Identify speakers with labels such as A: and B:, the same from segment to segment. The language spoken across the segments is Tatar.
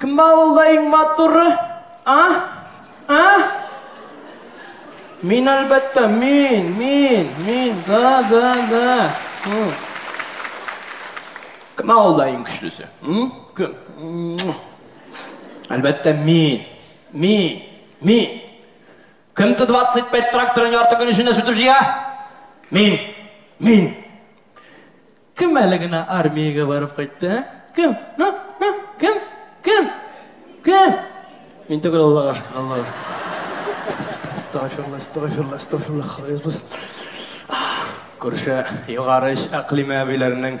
A: Кем авылда иң матуры? А? А? Мин әлбәттә, мин, мин, мин, да, да, да. Кем авылда иң көчлесе? Кем? Әлбәттә, мин, мин, мин. Кем Т-25 тракторын ярты көн эчендә сүтеп җыя? Мин. Мин. Кем әле генә армиягә барып кайтты? Ә? Кем? Ну, ну, кем? Кем? Кем? Мин түгел Аллага шөкер, Аллага шөкер. Астагфирулла, астагфирулла, астагфирулла, хафиз булсын. Күрше югары эш әкълиме әбиләренең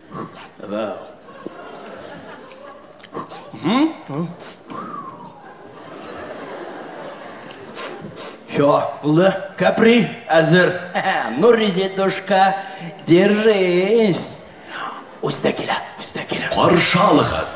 A: Все, булды. Капри әзер. Ну, резетушка, держись. Үз дә килә, үз дә килә. Каршы
B: алыгыз.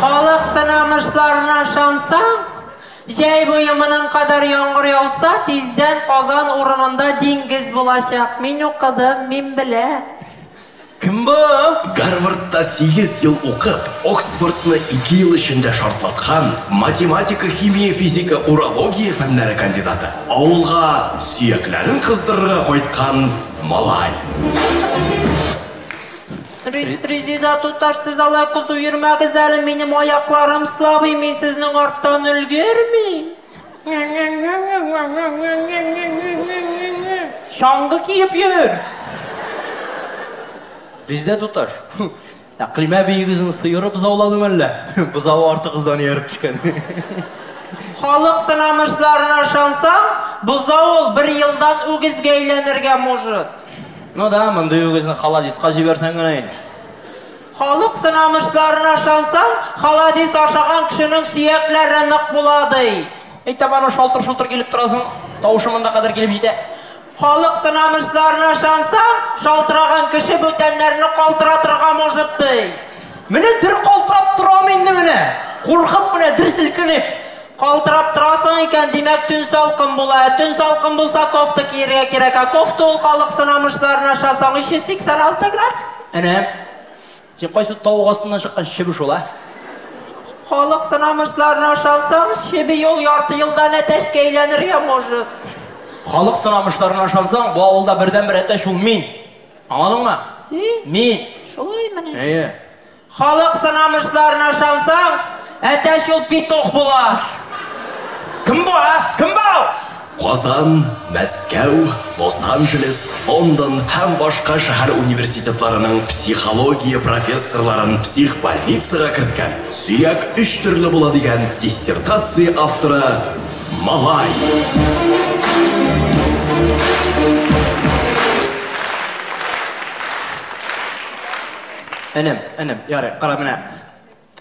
C: Халык сынамышларына ышансаң, җәй буе моның кадәр яңгыр яуса, тиздән Казан урынында диңгез булачак. Мин укыдым, мин беләм. Кем
A: бу? Гарвардта
B: сигез ел укып, Оксфордны ике ел эчендә шартлаткан, математика, химия, физика, урология фәннәре кандидаты, авылга сөякләрен кыздырырга кайткан малай.
C: Резеда туташ, сез алай кызу йөрмәгез әле, минем аякларым слабый, мин сезнең арттан өлгермим.
A: Чаңгы киеп йөр! Резеда туташ, Әкълимә биегезне сыеры бозауладымы әллә? Бозавы артыгыздан ияреп төшкән.
C: Халык сынамышларына ышансаң, бозау ул бер елдан үгезгә әйләнергә может. Ну да, мондый
A: үгезне халадиска җибәрсәң генә инде. Халык
C: сынамышларына ышансаң, халадис ашаган кешенең сөякләре нык була, ди. Әй, табаны
A: шалтыр-шолтыр килеп тора соң, тавышы монда кадәр килеп җитә. Халык
C: сынамышларына ышансаң, шалтыраган кеше бүтәннәрне калтыратырга может, ди. Менә
A: дер калтырап торам инде менә, куркып менә, дер селкенеп. Калтырап
C: торасың икән, димәк, төн салкын була. Ә төн салкын булса, кофта кияргә кирәк. Ә кофта ул халык сынамышларын аша соң, 386 грамм. Әнә,
A: син кайсы тавык астыннан чыккан чебе шул, ә?
C: Халык сынамышларын аша соң, чебе ел, ярты елдан әтәчкә әйләнергә может. Халык
A: сынамышларын ашансаң, бу авылда бердәнбер әтәч ул мин. Аңладыңмы? Син? Мин. Шулай мени?
C: Әйе. Халык сынамышларына ышансаң, әтәч ул петух була.
A: Кем бу, а? Кем бау? Казан,
B: Мәскәү, Лос-Анджелес, Лондон һәм башка шәһәр университетларының психология профессорларын психбольницага керткән, сөяк өч төрле була дигән диссертация авторы Малай.
A: Энем, энем, ярый, кара, менә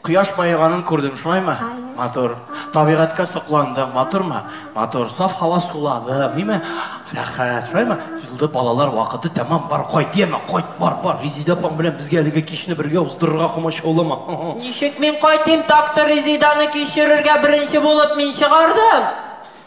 A: кояш баеганын күрдең, шулаймы? Матур. Табигатькә сокландың, матурмы? Матур. Саф һава суладың, ниме? Рәхәт, шулаймы? Юлда балалар вакыты тәмам, бар, кайт, яме, кайт, бар, бар. Резеда апаң белән безгә әлеге кичне бергә уздырырга комачаулама. Ничек мин
C: кайтыйм, так-то Резеданы кичерергә беренче булып мин чыгардым.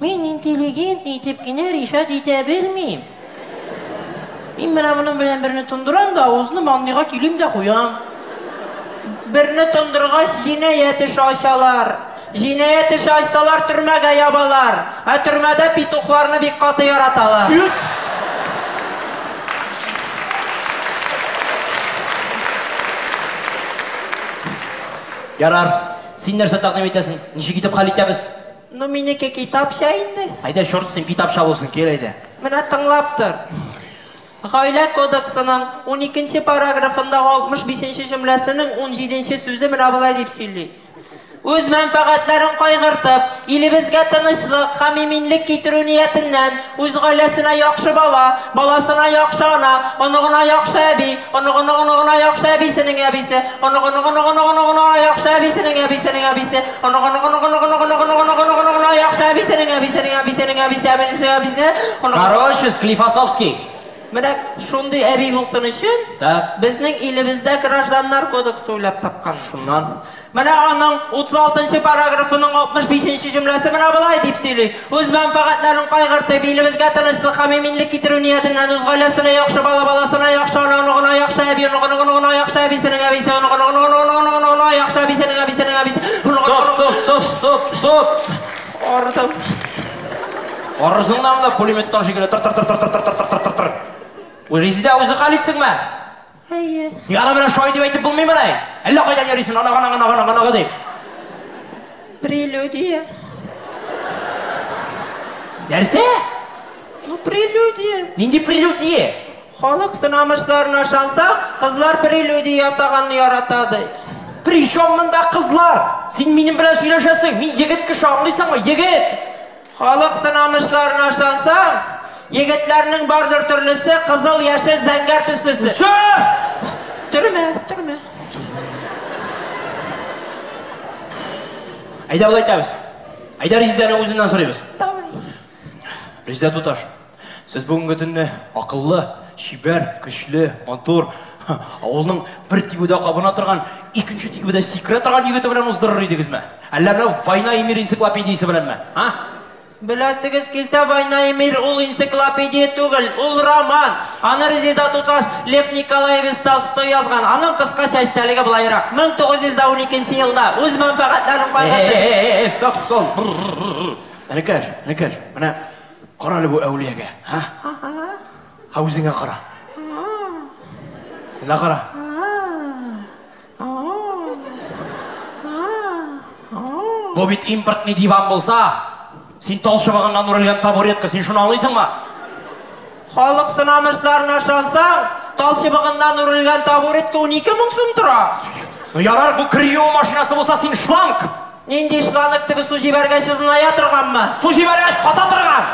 C: Мин интеллигент
D: итеп кенә ришат итә белмим. Мин менә моның белән берне тондырам да, авызны мандыйга килим дә куям.
C: Берне тондыргач, җинаять эше ачалар. Җинаять эше ачсалар, төрмәгә ябалар. Ә төрмәдә петухларны бик каты яраталар. Юк!
A: Ярар. Син нәрсә тәкъдим итәсең? Ничек итеп хәл итәбез? Ну минеке
C: китапча инде. Әйдә, чёрт с ним, китапча
A: булсын, кил әйдә. Менә тыңлап
C: тор. Гаилә кодексының уникенче параграфындагы алтмыш бишенче җөмләсенең унҗиденче сүзе менә болай дип сөйли, Үз мәнфәгатьләрен кайгыртып, илебезгә тынычлык һәм иминлек китерү ниятеннән, Үз гаиләсенә яхшы бала, баласына яхшы ана, оныгына яхшы әби, оныгының-оныгына яхшы әбисенең әбисе, оныгының-оныгының-оныгының-оныгына яхшы әбисенең әбисенең әбисе, оныгының-оныгының-оныгының-оныгының-оныгының-оныгына яхшы әбисенең әбисенең әбисенең әбисе әбисенең әбисенең оныгының. Короче,
A: Склифосовский! Менә
C: шундый әби булсын өчен, Так. безнең илебездә Гражданнар кодексы уйлап тапкан. Шуннан Менә
A: аның
C: 36 нчы параграфының 65 нче җөмләсе менә болай дип сөйли, Үз мәнфәгатьләрен кайгыртып, илебезгә тынычлык һәм иминлек китерү ниятеннән үз гаиләсенә яхшы бала, баласына яхшы ана, оныгына яхшы әби, оныгыныңоныгына яхшы әбисенең әбисе, оныгыныңоныгыныңоныгына яхшы әбисенең әбисенең әбисе,
A: Стоп, оныгыныңоныгына...
C: стоп, стоп, стоп, стоп! Ардым.
A: Арызыңнан да пулеметтан шикелле тыр-тыр-тыр-тыр-тыр-тыр-тыр-тыр-тыр-тыр-тыр. Резидә, үзе хәл итсенме? Әйе.
D: Ник аны менә шулай
A: дип әйтеп булмыймыни? Әллә кайдан йөрисен, оныгы, оныгы, оныгы, оныгы, оныгы дип. Прелюдия. Нәрсә?
C: Ну, прелюдия. Нинди прелюдия?
A: Халык
C: сынамышларына ышанса, кызлар прелюдия ясаганны ярата ди. Причем
A: монда кызлар? Син минем белән сөйләшәсең, мин егет кеше, аңлыйсыңмы, егет! Халык
C: сынанышларына ышансаң, егетләрнең бардыр төрлесе кызыл, яшел, зәңгәр төслесе. Төрмә, төрмә.
A: Әйдә болай итәбез. Әйдә Резидәнең үзеннән сорыйбыз. Давай. Резидә туташ. Сез бүгенге төнне акыллы, чибәр, көчле, матур, авылның бер тибүдә кабына торган, икенче тибүдә сикерә торган егете белән уздырыр идегезме? Әллә менә Война и мир энциклопедиясе беләнме? А? Беләсегез
C: килсә, Война и мир ул энциклопедия түгел, ул роман. Аны Резеда туташ Лев Николаевич Толстой язган. Аның кыскача эчтәлеге былайрак. 1912 елда үз мәнфәгатьләрен кайгыртып... Стоп, стоп.
A: Энекәш, энекәш, менә Кара әле бу әүлиягә, һа? Һа үзеңә кара. Менә кара. Бу бит импортный диван булса, син тал чыбыгыннан үрелгән табуретка, син шуны аңлыйсыңмы?
C: Халык сынамышларына ышансаң, тал чыбыгыннан үрелгән табуретка унике мең сум тора. Ну ярар, бу
A: крио машинасы булса, син шланг! Нинди шланг
C: теге су җибәргәч озыная торганмы? Су җибәргәч ката
A: торган.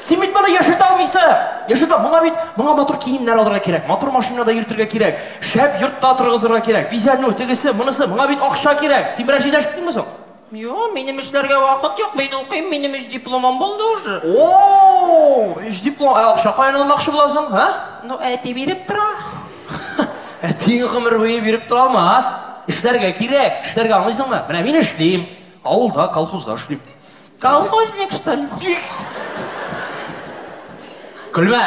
A: Син бит моны яшерт алмыйсы. Яшерт ал. Моңа бит моңа матур киемнәр алырга кирәк, матур машинада йөртергә кирәк, шәп йортта торгызырга кирәк, бизәнү, тегесе, монысы, моңа бит акча кирәк. Син берәр җитәшкисеңме соң? Юк, минем
C: эшләргә вакыт юк, мин укыйм, минем өч дипломым булды уже. Оо,
A: өч диплом, ә акча каян алмакчы буласың, һә? Ну, әти
C: биреп тора.
A: Әтиең гомер буе биреп тора алмас. Эшләргә кирәк, эшләргә аңлыйсыңмы? Менә мин эшлим, авылда, колхозда эшлим. Колхозник,
C: что ли?
A: Көлмә!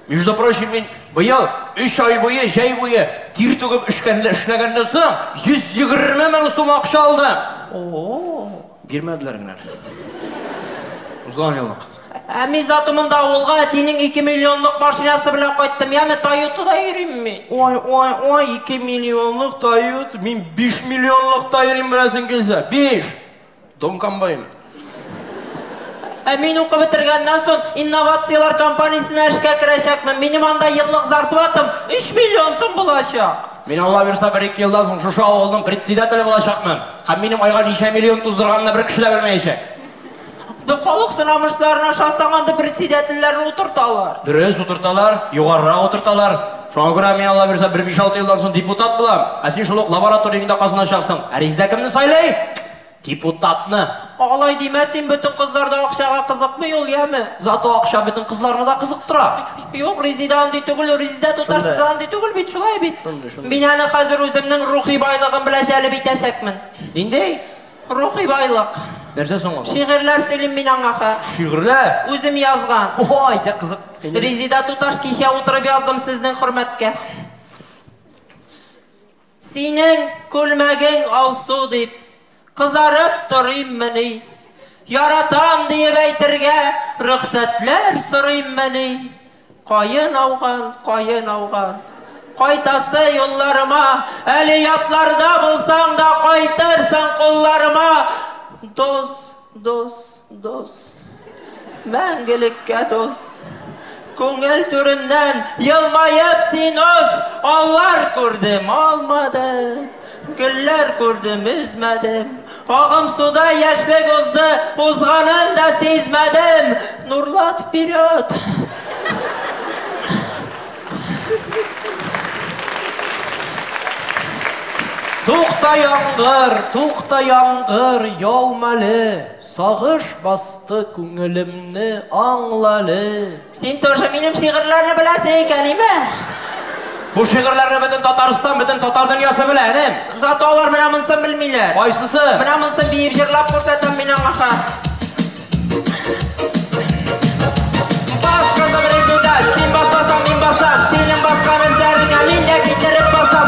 A: Между прочим, мин быел өч ай буе, җәй буе тир түгеп эшкәнле эшләгәннән соң 120 мең сум акча алдым. О-о-о. Бирмәделәр генә. Узган еллык. Ә мин зато
C: монда авылга әтинең ике миллионлык машинасы белән кайттым. Яме Тойотада йөрим мин. Ой, ой, ой, ике
A: миллионлык Тойота. Мин биш миллионлыкта йөрим, беләсең килсә. Биш! Дом комбайн. Ә
C: мин укып бетергәннән соң инновацияләр компаниясенә эшкә керәчәкмен. Минем анда еллык зарплатам өч миллион сум булачак. Мин Алла бирса
A: бер-ике елдан соң шушы авылның председателе булачакмын. Һәм минем айга ничә миллион туздырганымны бер кеше дә белмәячәк. Бу
C: халык сорамышларын ашасаң, анда председательләрне утырталар. Дөрес, утырталар,
A: югарырак утырталар. Шуңа күрә мин, Аллабирса, бер биш-алты елдан соң депутат булам, ә син шул ук лабораториеңдә казаначаксың. Ә Резидә кемне сайлый? Депутатны! Алай димә
C: син, бөтен кызлар да акчага кызыкмый ул, яме! Зато акча бөтен
A: кызларны да кызыктыра! Юк, Резидә
C: андый түгел, Резидә туташы да андый түгел бит, шулай бит? Мин аны хәзер үземнең рухи байлыгым белән җәлеп итәчәкмен! Нинди?
A: Рухи
C: байлык. Нәрсә соң ул?
A: Шигырьләр сөйлим мин аңа
C: ха. Шигырьләр? Үзем
A: язган.
C: О, әйдә, кызык.
A: Резида туташ,
C: кичә утырып яздым сезнең хөрмәткә. Синең күлмәгең алсу дип, кызарып торыйммыни? Яратам диеп әйтергә рөхсәтләр сорыйммыни? Каен ауган, каен ауган. Кайтасы юлларыма, Әле ятларда булсаң да, Кайтырсың кулларыма. Дус, дус, дус. Мәңгелеккә дус. Күңел түремнән елмаеп син уз, Алар күрдем, алмады. Гөлләр күрдем, өзмәдем. Агым суда яшьлек узды, узганын да сизмәдем. Нурлат вперед!
A: Тукта яңгыр, тукта яңгыр, яумале. Сагыш басты күңелемне, аңлале. Син тоже
C: минем шигырьләрне беләсе икән име? Бу
A: шигырьләрне бөтен Татарстан, бөтен татар дөньясы белә, энем. Зато алар менә монсын
C: белмиләр. Кайсысы? Менә монсын
A: биеп
C: җырлап күрсәтәм мин аңа ха. Бас, кызым, ритмда, син басасаң, мин басам, синең баскан эзләреңә мин дә китереп басам.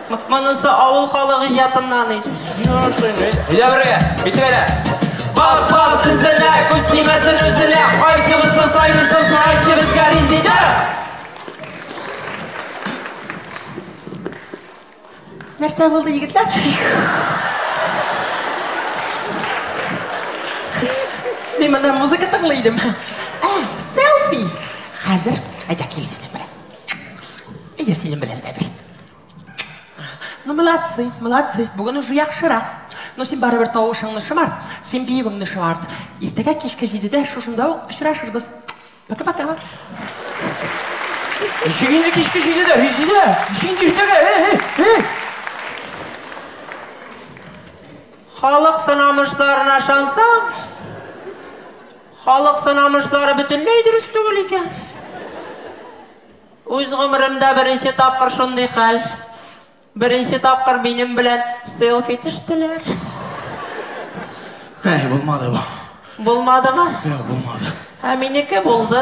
C: Монысы авыл халык иҗатыннан иде. Өйдә
A: бергә, битгәлә. Бас, бас,
C: тезләнә, күз тимәсен үзенә. Кайсыбызны сайлыйсыз, мәгәйтче безгә Резидә? Нәрсә булды, егетләр? Мин монда музыка тыңлый идем. Ә, селфи! Хәзер әйдә кил синең белән. Әйдә синең белән дә бит. Ну, молодцы, молодцы. Бүген уже яхшырак. Ну, син барыбер тавышыңны шымарт, син биюеңне шымарт. Иртәгә кичке җидедә шушында ук очрашырбыз. Пока-пока. Ничек
A: инде кичке җидедә, Резидә? Ничек инде иртәгә? Эй, эй, эй!
C: Халык сынамышларына ышансаң, халык сынамышлары бөтенләй дөрес түгел икән. Үз гомеремдә беренче тапкыр шундый хәл. Беренче тапкыр минем белән селфи төштеләр.
A: Әй,
C: булмады бу. Булмадымы? Юк,
A: булмады.
C: Ә минеке булды.